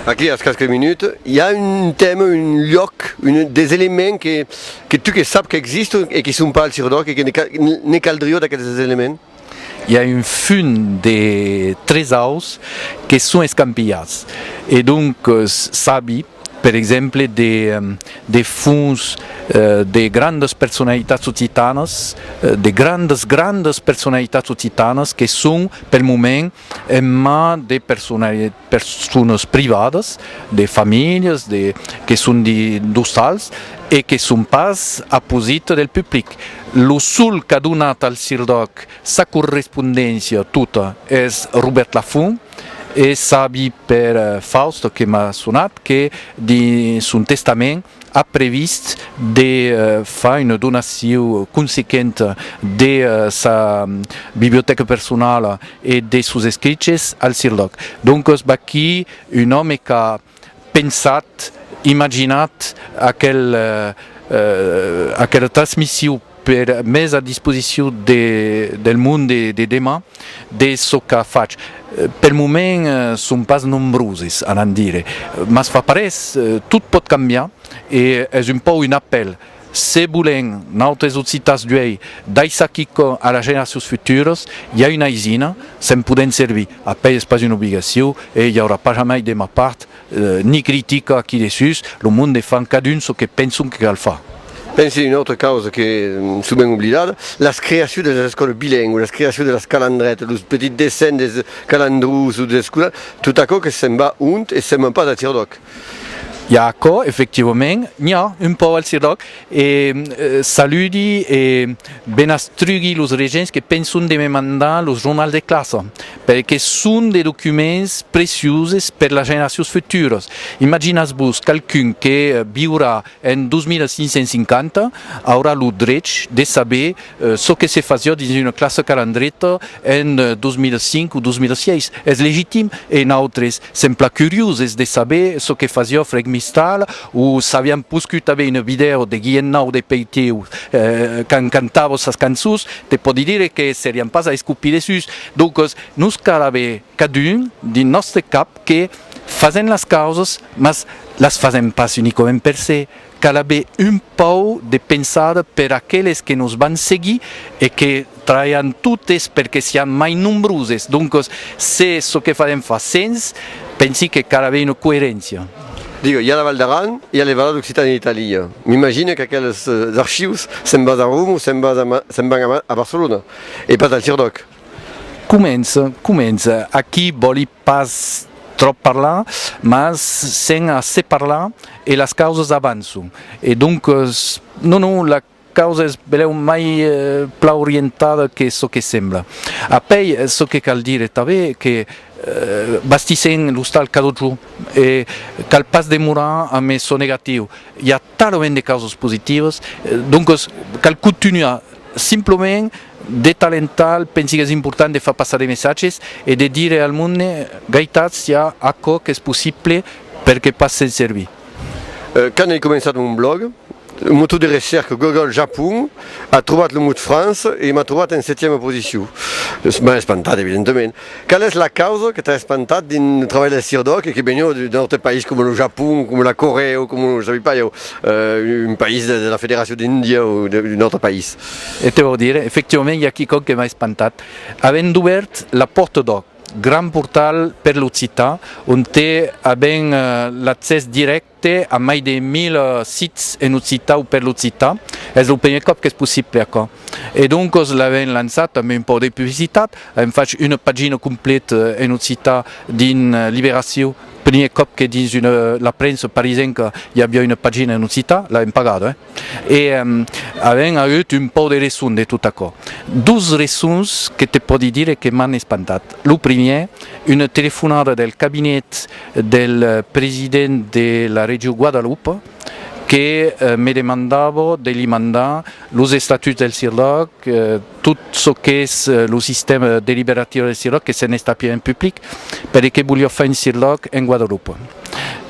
Aquí als casques minuts i a un tèma, un luòc, des elements que tu que sap qu'existon e que son pas al Sirodòrc e que ne caldrió d'aqueles elements? I a un fum de tres aus que son escampilhats e donc sabi. per exemple de fons de grandas personalitats occitanas, de grandas grandas personalitats occitanas que son pel moment en man de personas privadas, de familhas, que son d'ostals e que son pas a posit del public. Lo sol qu'a donat al Sir Doc sa correspondéncia tota es Robèrt Lafont. E sabi per Fausto que m'a sonat que dins son testament a previst de far una donacion consequenta de sa bibliotèca personala e de sos escriches al Cirlòc. Doncas v'aquí un òme qu'a pensat, imaginat aquela transmission per mes a disposicion del monde de deman de çò qu'a fach. Pel moment son pas nombroses a n'en dire, mas fa parés, tot pòt cambiar e es un pòu un apèl Se bolen, nautes occitans d'uei, daissar quicò a las generacions futuras, i a una aisina, se'n podèn servir. Apèi es pas una obligacion, e i aurà pas jamai de ma part, ni critica aquí dessús, lo monde fan cadun çò que penson que cal far. Pense una autra causa que, sovent oblidada, las creacions de las escòlas bilengües, las creacions de las calandretas, los petits dessenh dels calandrons o dels escolans, tot aquò que se'n va ont e se'n van pas a Tirdoc. I a aquò, efectivament, n'i a un pauc al CIRDÒC e saludi e benastrugui los regents que penson de me mandar los jornals de classa, perque son de documents preciuses per las generacions futuras. Imaginatz-vos qualqu'un que viurà En 2550, aurà lo drech de saber çò que se fasiá dins una classa calandreta en 2005 o 2006. Es legitim e nautres, sempla curioses de saber çò que fasiá Freg Mistral o s'avián poscut aver una vidèo de Guilhèm Nau de Peiteu quand cantava sas cançons, te pòdi dire que serián pas a escopir dessús. Doncas, nos cal aver cadun dins nòstre cap que fasèm las causas, mas las fasèm pas unicament per se, cal aver un pauc de pensada per aqueles que nos van seguir e que trabalhan totes perque sián mai nombroses, doncas se çò que fasèm fa sens, pensi que cal aver una coeréncia. Digue, i a la Val d'Aran, i a le Valais d'Occitània e d'Itàlia, m'imagine qu'aqueles archius se'n basa a Roma o se'n van a Barcelona, e pas al Sirdòc. Comença, comença, aquí vòli pas tròp parlar, mas sent a se parlar e las causas avançon, e doncas, non, non, la causa es belèu mai plan orientada que çò que sembla. Apèi, çò que cal dire tanben es que bastissèm l'ostal Cadotjò e cal pas demorar a me sonegatiu, i a. talament de causas positivas, doncas cal contunhar simplament de tal en tal, pensi qu'es important de far passar de messatges e de dire al monde gaitats i a aquò qu'es possible per que pas se'n servir. Quand ai començat mon blòg, lo motor de recerca Google Japon a trobat lo mot France e m'a trobat en setièma posicion. M'a espantat evidentament. Qual es la causa que t'a espantat dins lo trabalh del CIRDOC e que veniu d'un aute país coma lo Japon, coma la Corèa o coma, je sabi pas ieu, un país de la Federacion d'Índia o d'un autre país? E te vau dire, efectivament i a quicòm que m'a espantat. Avèm dubèrt la Pòrta d'Òc, gran portal per l'occitan, onte avèm l'accès dirèct Té a mai de 1000 sits en occitan o per l'occitan. Es lo primièr còp qu'es possible aquò. E doncos l'avèm lançat amb un pauc de publicitat, avèm fach una pagina completa en occitan dins Libération, primièr còp que dins la premsa parisenca i aviá una pagina en occitan, l'avèm pagada, eh! E avèm auut un pòu de reson de tot aquò. Dos resons que te pòdi dire que m'an espantat. Lo primièr, una telefonada del cabinet del president de la region Guadalupe que me demandava de li mandar los estatuts del CIRDAC, tot çò qu'es lo sistèma deliberatiu del CIRLOC que se n'estapia en public, per e que voliá far un CIRLOC en Guadalupe.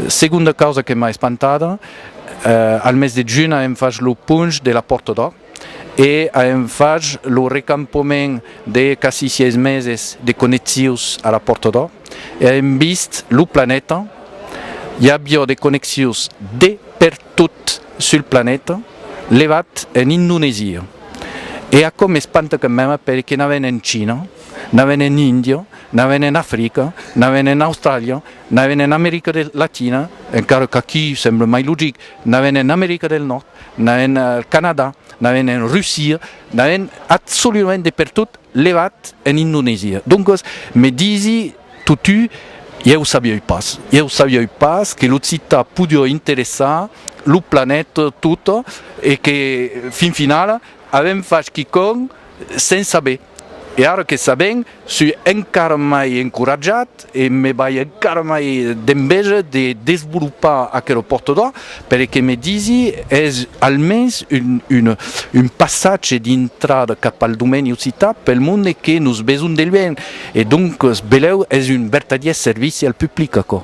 Segonda causa que m'a espantada, al mes de junh aèm fach lo ponch de la Pòrta d'Òr e aèm fach lo recampament de quasi sièis meses de connexius a la Pòrta d'Òr e aèm vist lo planeta, i aviá de connexius de per tot sul planeta, levat en Indonesia. E aquò m'espanta quand meme perque n'a ven en China, n'a ven en India, n'a ven en Africa, n'a ven en Australia, n'a ven en America del Latina, encara qu'aquí semble mai logic, n'a ven en America del Nòrd, n'a ven al Canadà, n'a ven en Russia, n'a ven absoludament de pertot levat en Indonesia. Doncas, me disi, Totú, ieu sabieu pas, ieu sabieu pas que l'occitan podió interessar lo planèt tot e que fin finala avèm fach quicònh sens saber. E ara que sabèm, sui encara mai encoratjat e me bai encara mai d'enveja de desvolopar aquela pòrta d'òr Per e que me disi, es almens un passatge d'intrada cap al domèni occità pel monde que nos besonh de luenh, e donques belèu es un vertadièr servici al public, aquò.